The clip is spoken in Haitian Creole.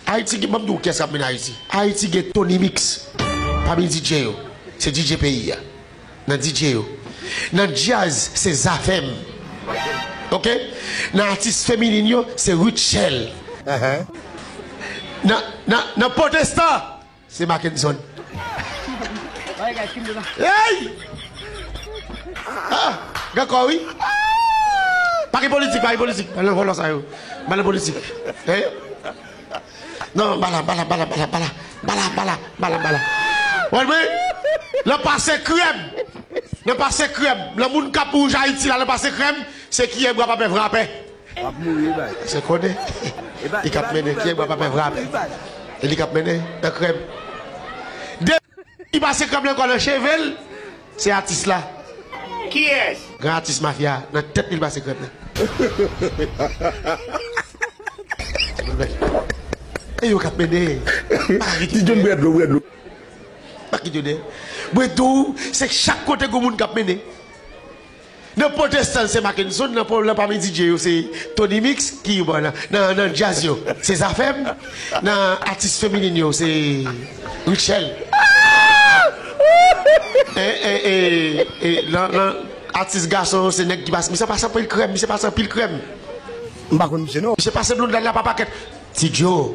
Ayiti gen banm di w kiyès kap mennen ayiti ayiti gen Tony mix pami DJ yo se DJ peyi a nan DJ yo nan djaz se zafèm ok nan atis feminin yo se Rutshelle nan nan nan potesta Se Mackenson. Eyy! Ah! Gen kò wi. Pa gen politik, pa gen politik. Nan vòlò sa yo. Pa gen politik. Eyy! Nan, bala, bala, bala, bala, bala. Bala, bala, bala, bala. Wè lwen? Nan pase krèm. Nan pase krèm. Nan moun kap wouj Ayiti la nan pase krèm, se kiyè bwa pa pè vrapè. Wap mouri wi baz. Se konnen li kap mennen kyè bwa pape frape e li kap mennen nan krèm depi li pase krèm lan ankò nan chevel se atis la kiyès gran atis mafya nan tèt li li pase krèm nan e yo kap mennen pa kit yo dèyè mwen diw se chak kote gou moun kap mennen. Nan potestan l se Makenson nan pwòblèm pa mi DJ yo se Tony Mix ki bon nan nan djaz yo se Zafèm nan atis feminin yo se Rutshelle eeeeee e nan nan atis gason yo se nèg ki pas misye pas anpil krèm misye pas anpil krèm m pa konn misye non. Misye pase blonde la pa pakèt Ti Joe.